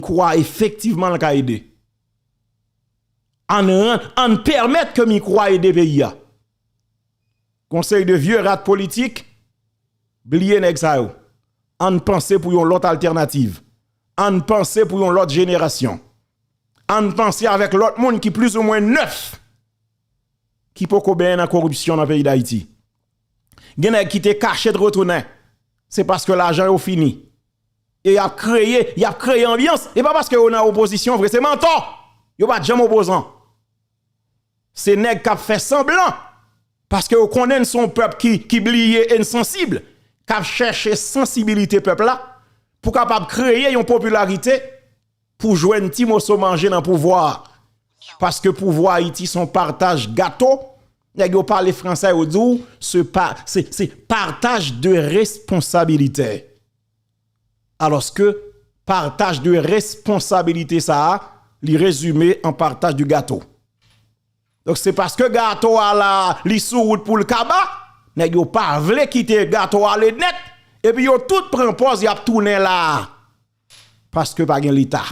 Kwa efektivman l ka ede. Ann ran, ann pèmèt ke mikwo a ede peyi a. Konsèy de vye rat politik, bliye nèg sa yo. Ann panse pou yon lòt altènativ. Ann panse pou yon lòt jenerasyon. Ann panse avèk lòt moun ki plis ou mwen nèf. Ki poko benyen nan koripsyon nan peyi Dayiti. Gen nèg ki te kache t retounen. Se paske lajan yo fini. E yap kreye, yap kreye anbyans. E pa paske yo nan opozisyon vre, se mantò. Yo pa djanm opozan. Se nèg kap fè sanblan. Paske yo konnen n son pèp ki bliye e n sansib. Kap chèche sansibilite pèp la. Pou kapab kreye yon popilarite. pou jwenn ti moso manje nan pouvwa a paske pouvwa ayiti son partaj gato nèg yo pale fransè yo di w se pa se se partaj de responsabilitè alòske partaj de responsabilite sa a li rezime an partaj de gato donk se paske gato a la li sou wout pou l kaba nèg yo pa vle kite gato ale nèt epi yo tout pran pòz y ap tounen la a. Paske pa gen leta,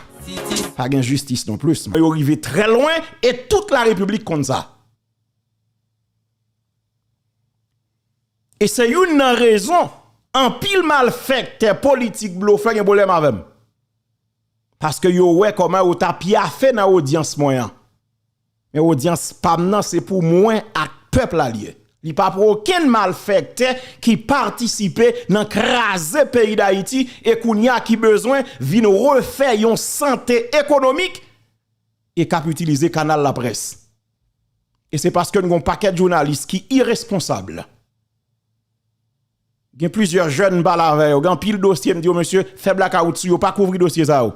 pa gen jistis non plis. Yo rive trè lwen e tout la repiblik konn sa. E se youn nan rezon anpil malfèktè politik blofè gen pwoblèm avè m. Paske yo wè kòman yo ta pyafe nan odyans mwen an. Men odyans pam nan se pou mwen ak pèp la li ye. Li pa pou okenn malfèktè ki patisipe nan kraze peyi Dayiti e kounye a ki bezwen vin refè yon sante ekonomik e kap itilize kanal laprès. E se paske n gon pakèt jounalis ki iresponsab. Gen plizyè jèn m pale avè yo, gen anpil dosye m di yo mesye fè blakawout sou yo pa kouvri dosye sa yo.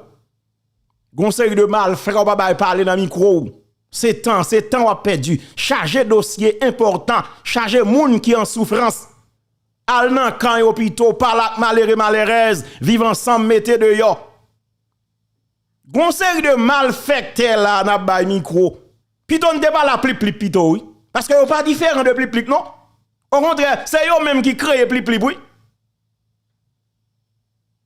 Gon seri de malfra ou pa bay pale nan mikwo ou. Se tan, se tan wap pèdi. Chaje dosye enpòtan, chaje moun ki an soufrans. Al nan kan yo pito, pale ak malere malerèz, viv ansanm mete deyò. Gon seri de malfèktè la nap bay mikro. Pito nou te pale a plip plip pito wi. Paske yo pa diferan de plip plip non. Okontrè se yo menm ki kreye plip plip wi.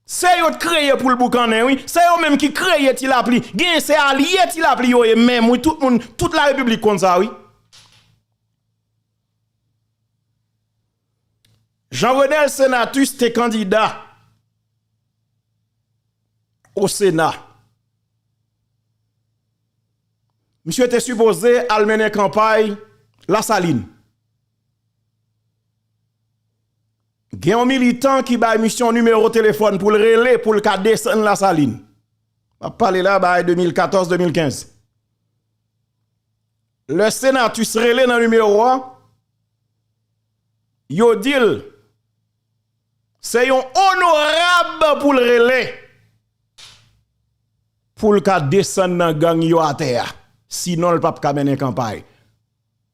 Se yo t kreye poul boukannen wi. Se yo menm ki kreye ti lapli. Genyen se alye ti lapli yo ye menm wi. Tout moun, tout la repiblik konn sa wi. Jean Renel Senatus te kandida o sena. Misye te sipoze al mennen kanpay la salin. Gen yon militan ki bay misye yon nimewo telefon pou l rele pou l ka desen la salin. Map pale la bay 2014-2015. Le Senatus rele nan nimewo a. Yo di l, Se yon onorab pou l rele pou l ka desann nan gang yo atè a. Sinon l pap ka mennen kanpay.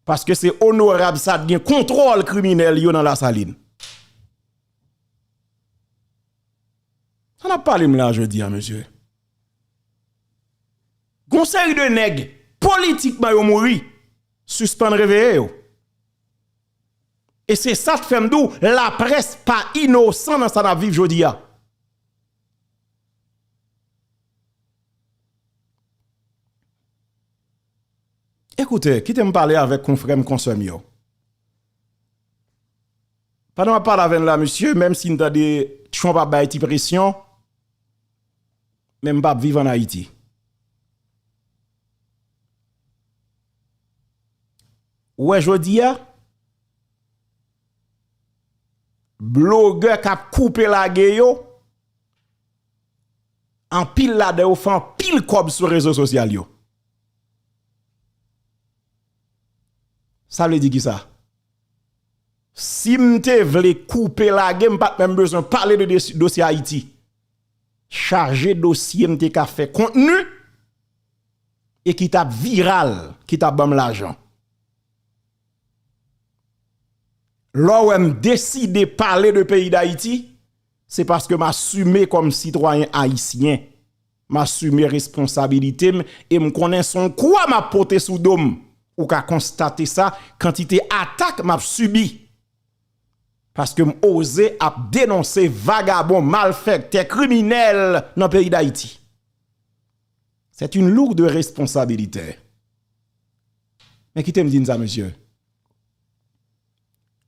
Paske se onorab sa t gen kontwòl kriminèl yo nan Lasalin. Sa n ap pale m la jodi a mesye. Gon seri de nèg politikman yo mouri. Sispann reveye yo. E se sa k fè m di w laprès pa inosan nan sa n ap viv jodi a. Ekoute, kite m pale avèk konfrè m, konsè m yo. Pandan m ap pale avè n la mesye, menm si n tande Trump ap bay ti presyon, men m pa p viv an Ayiti. Ou wè jodia blogè kap koupe lage yo anpil ladan yo fè anpil kòb sou rezo sosyal yo. Sa vle di kisa? Sim te vle koupe lage m pat menm bezwen pale de dosye ayiti. Chaje dosye m te ka fè kontni. e ki tap viral ki tap banm lajan lè w wèm deside pale de peyi dayiti se paske m asime kòm sitwayen ayisyen m asime responsabilite m e m konnen se yon kwa map pote sou do m ou ka konstate sa kantite atak map sibi paske m oze ap denonse vagabon malfèktè kriminèl nan peyi dayiti. C'est une lourde responsabilité. Men kite m di n sa mesye,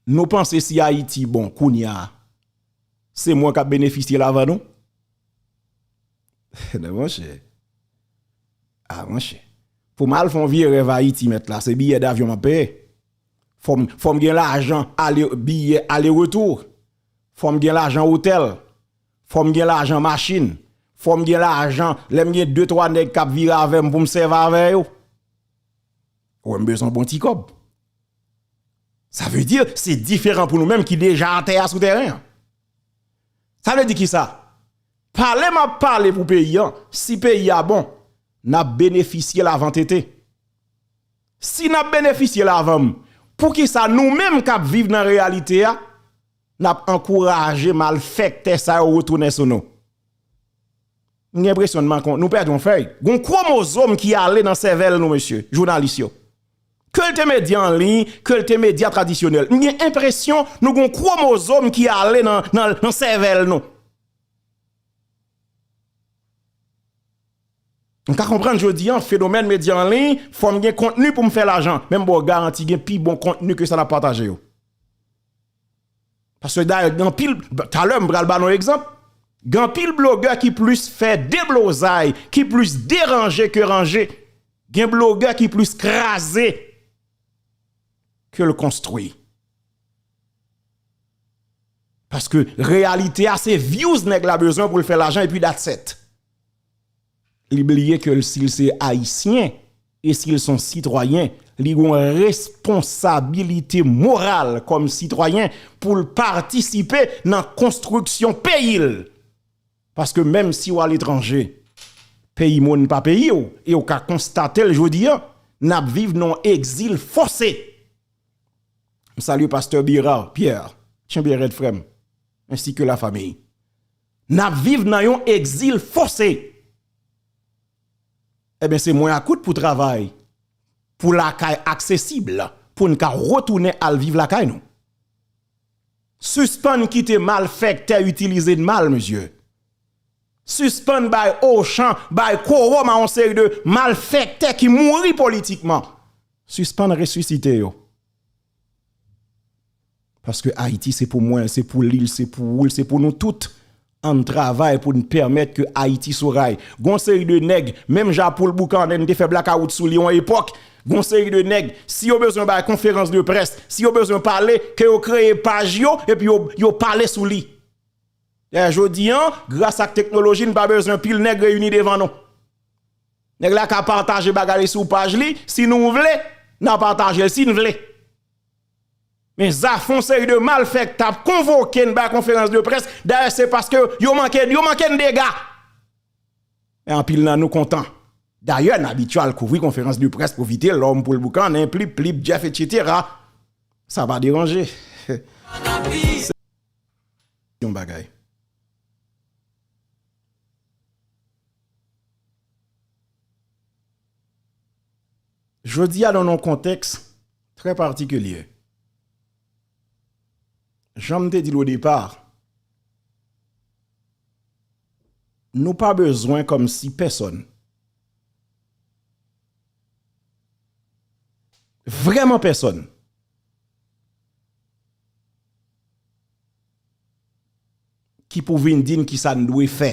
nou panse si Ayiti bon kounya se mwen k ap benefisye l avan nou? Nan monchè, a monchè, pou m al fè yon vye rèv Ayiti mèt la se biyè davyon m ap peye? Fò m gen lajan ale, biyè ale retou, fò m gen lajan otèl. Fòm gen lajan machin, fòm gen lajan lèm gen 2 3 nèg kap vire avèm poum sèvi avè yo. Ou wèm bezwen bon ti kòb. Sa vle di se diferan pou nou menm ki deja atè a sou tèren an. Sa vle di ki sa? Pale map pale pou peyi an, si peyi a bon, nap benefisye l avan tete. Si nap benefisye l avanm, pou ki sa nou menm kap viv nan reyalite a? Nap ankouraje malfèktè sa yo retounen sou nou. M gen enpresyon nou pèdi yon fèy. Gon kwomozom ki ale nan sèvèl nou mesye, jounalis yo. Ke l te medya an liy, ke l te medya tradisyonèl. M gen enpresyon nou gon kwomozom ki ale nan sèvèl nou. M ka konprann jodi an fenomèn medya an liy, fò m gen kontni pou m fè lajan. Men m ba w garanti gen pi bon kontni ke sa nap pataje yo. Paske dayè gen anpil, talè m pral ba nou egzanp, gen anpil blogè ki plis fè deblozay, ki plis deranje ke ranje, gen blogè ki plis kraze ke l konstwi. Paske reyalite a se vyouz nèg la bezwen pou l fè lajan epi dat sèt. Li bliye ke si l se Ayisyen e si l son sitwayen, li gen yon responsabilite moral kòm sitwayen pou l patisipe nan konstriksyon peyi l. Paske menm si w aletranje, peyi moun pa peyi w, e w ka konstate l jodi a, n ap viv nan yon egzil fòse. M salye Pastè Bérard Pierre, kenbe rèd frè m, ensi ke la famiy. N ap viv nan yon egzil fòse. Enben se mwen akout pou travay pou lakay aksesib pou n ka retounen al viv lakay nou. Sispann kite malfèktè itilize n mal mesye. Sispann bay ochan, bay kowòm a yon seri de malfèktè ki mouri politikman. Sispann resisite yo. Paske Ayiti se pou mwen, se pou li, se pou ou, se pou nou tout. Ann travay pou n pèmèt ke Ayiti sou ray. Gen yon seri de nèg, menm jan Poul Boukannen te fè blakawout sou li yon epòk, gen yon seri de nèg, si yo bezwen bay konferans de près, si yo bezwen pale, ke yo kreye paj yo, epi yo pale sou li. Dayè jodi an, gras ak teknoloji, n pa bezwen pil nèg reyini devan nou. Nèg la ka pataje bagay li sou paj li, si nou vle, na pataje l si n vle. Men zafè yon seri de malfèktè ap konvoke n bay konferans de près, dayè se paske yo manke yo manke n dega. Men anpil nan nou kontan. Dayè n abitye al kouvri konferans de près pou Vitelòm, Poul Boukannen, Plip Plip, Jeff etsetera. Sa pa deranje. Se yon bagay. Jodi a nan yon kontèks trè patikilye. Jan m te di l o depa, nou pa bezwen kòm si pèsòn, vrèman pèsòn, ki pou vin di n kisa n dwe fè.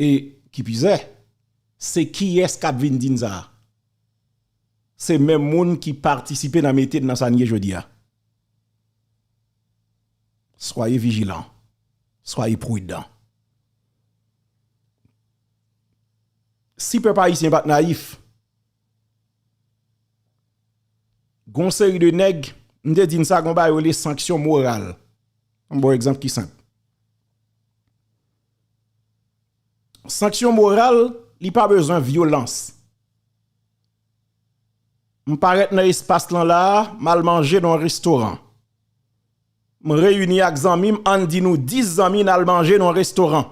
E kipizè, se kiyès kap vin di n sa? Se menm moun ki patisipe nan mete n nan sa n ye jodi a. Soyez vigilants, soyez prudents. Si pèp ayisyen pat nayif, gon seri de nèg, m te di n sa, gon bagay yo rele sanksyon moral. M ba w egzanp ki senp. Sanksyon moral, li pa bezwen vyolans. M parèt nan espas lan la a, m al manje nan yon restoran. M reyini ak zanmi m, ann di nou 10 zanmi n al manje nan yon restoran.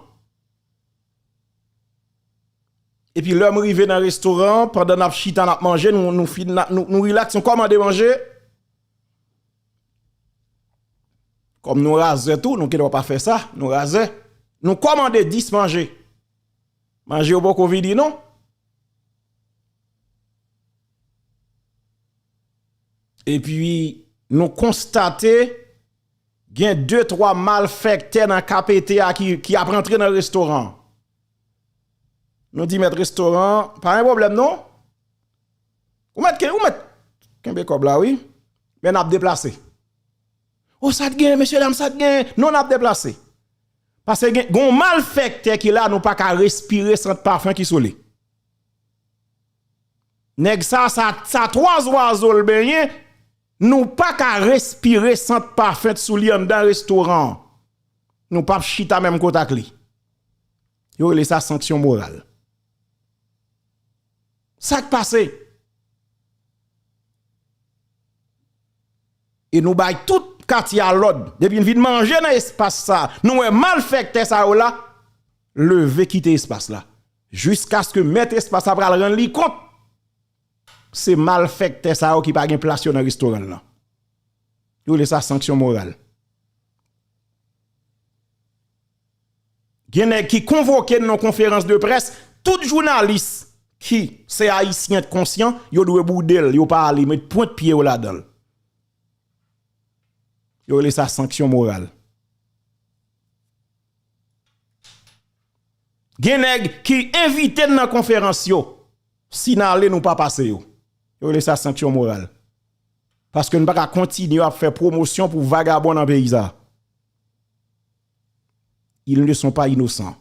Epi lè m rive nan restoran an, pandan n ap chita n ap manje, nou rilaks, nou kòmande manje. Kòm nou razè tou, nou gen dwa pa fè sa, nou razè. Nou kòmande 10 manje. Manje yo poko vini non. E pi nou konstate gen 2, 3 mal fèktè nan KPT a ki ap rantre nan restoran. Nou di mèt restoran, pa gen pwoblèm non. Ou mèt ken, ou mèt kenbe kòb la wi, men nap deplase. O sa t gen, mesye dam sa t gen, non nap deplase. Pase gen, gon mal fèktè ki la nou pa ka respire sant pafen ki sou li. Nèg sa, sa, sa twa zwazo l benyen, nou pa ka respire sant pafen t sou li anndan restoran. Nou pap chita menm kota k li. Yo rele sa sanksyon moral. Sak pase? E nou bay tout katye a lòd, depi n vin manje nan espas sa, nou wè malfèktè sa yo la, leve kite espas la. Jiskaske mèt espas la pral rann li kont, se malfèktè sa yo ki pa gen plas yo nan restoran l lan. Yo rele sa sanksyon moral. Gen nèg ki konvoke nan konferans de près tout jounalis ki se ayisyen t konsyan yo dwe boude l yo pa ale met pwent pye yo ladan l yo rele sa sanksyon moral gen nèg ki envite n nan konferans yo si n ale nou pa pase yo yo rele sa sanksyon moral paske n pa ka kontinye ap fè pwomosyon pou vagabon nan peyi sa. Ils ne sont pas innocents.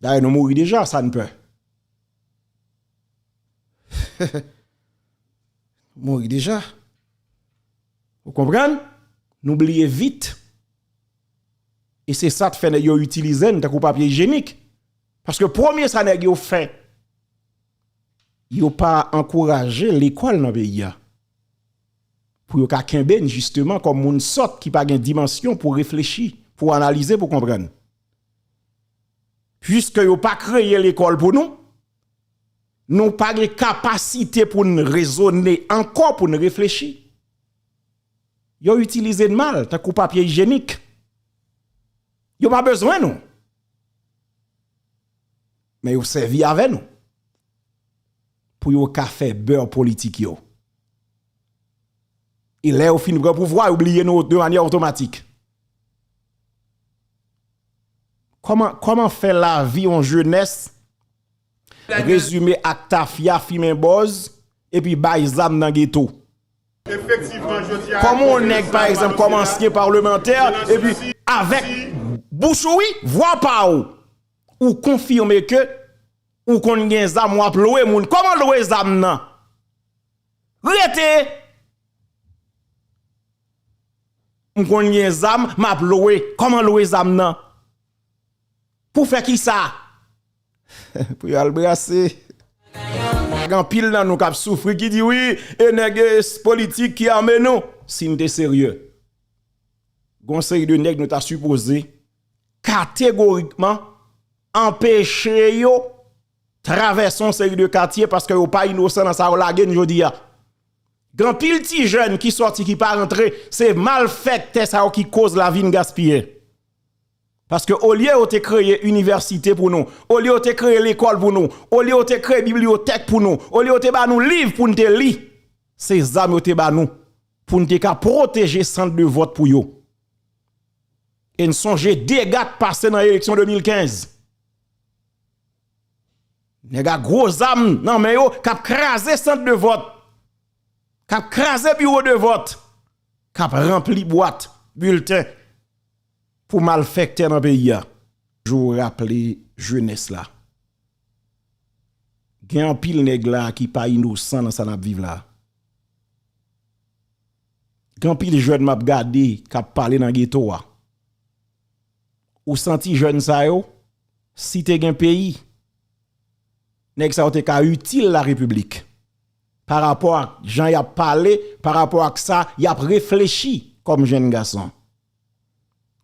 Dayè nou mouri deja, sa n pè? Mouri deja. Ou konprann? Nou bliye vit. E se sa t fè nèg yo itilize n tankou papye ijenik. Paske premye sa nèg yo fè, yo pa ankouraje lekòl nan peyi a. Pou yo ka kenbe n jisteman kòm moun sòt ki pa gen dimansyon pou reflechi, pou analize, pou konprann. Piske yo pa kreye lekòl pou nou, nou pa gen kapasite pou n rezone ankò, pou n reflechi. Yo itilize n mal tankou papye ijenik. Yo pa bezwen nou. Men yo sèvi avè nou. Pou yo ka fè beurre politik yo. E lè yo fin pran pouvwa yo bliye nou de manyè otomatik. Kòman, kòman fè lavi yon jenès rezime ak tafya, fimen bòz, epi bay zam nan geto? Kòman yon nèg pa egzanp kòm ansyen parlemantè epi avèk bouch ou wi, vwa pa ou. Ou konfime ke ou konn gen zam wap lwe moun koman lwe zam nan rete m konn gen zam map lwe koman lwe zam nan pou fè kisa pou yo al brase gen pil nan nou kap soufri ki di wi e nèg politik ki ame nou si n te serye gon seri de nèg nou ta sipoze kategorikman anpeche yo travèse yon seri de katye paske yo pa inosan nan sa yo lage n jodi a. Gen anpil ti jèn ki sòti ki pa rantre, se malfèktè sa yo ki koz lavi n gaspiye. Paske olye yo te kreye inivèsite pou nou, olye yo te kreye lekòl pou nou, olye yo te kreye bibliyotèk pou nou, olye yo te ba nou liv pou n te li, se zam yo te ba nou pou n te ka pwoteje sant de vòt pou yo. E n sonje dega k pase nan eleksyon 2015. Nèg ak gwo zam nan men yo k ap kraze sant de vòt, k ap kraze biwo de vòt, k ap ranpli bwat bilten pou malfèktè nan peyi a. Toujou raple jenès la. Gen anpil nèg la ki pa inosan nan sa n ap viv la. Gen anpil jèn map gade kap pale nan geto a. Ou santi jèn sa yo si te gen peyi nèg sa yo te ka itil la repiblik pa rapò ak jan yap pale pa rapò ak sa yap reflechi kòm jèn gason.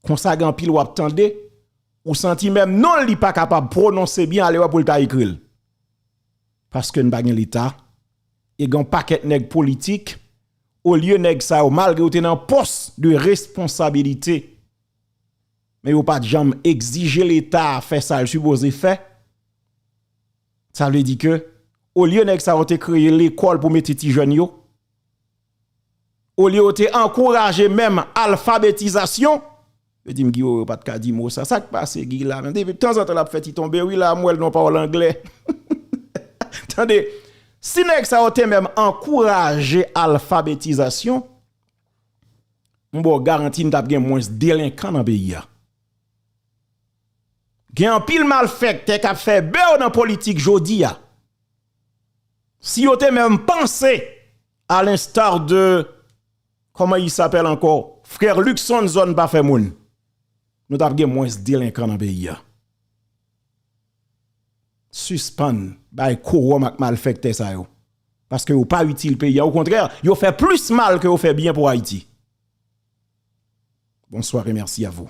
Konsa gen anpil wap tande ou santi menm non li pa kapab pwononse byen alewè pou l ta ekri l. Paske n pa gen leta e gen yon pakèt nèg politik olye nèg sa yo malgre yo te nan pòs de responsabilite men yo pa t janm egzije leta fè sa l sipoze fè sa vle di ke olye nèg sa yo te kreye lekòl pou mete ti jèn yo olye yo te ankouraje menm alfabetizasyon, yo di m Guy yo pat ka di mo sa, sak pase Guy la menm, depi tanzantan lap fè ti tonbe wi la m wèl nan pawòl anglè, tande si nèg sa yo te menm ankouraje alfabetizasyon, m baw garanti n tap gen mwens delenkan nan peyi a. Gen anpil malfèktè kap fè bew nan politik jodi a, si yo te menm panse A l'instar de Comment il s'appelle encore Frère Luckson zòn pa fè moun Nou tap gen mwens delenkan nan peyi a Sispann bay kowòm ak malfèktè sa yo Paske yo pa itil peyi a Okontrè yo fè plis mal ke yo fè byen pou Ayiti Bonsoir et merci à vous.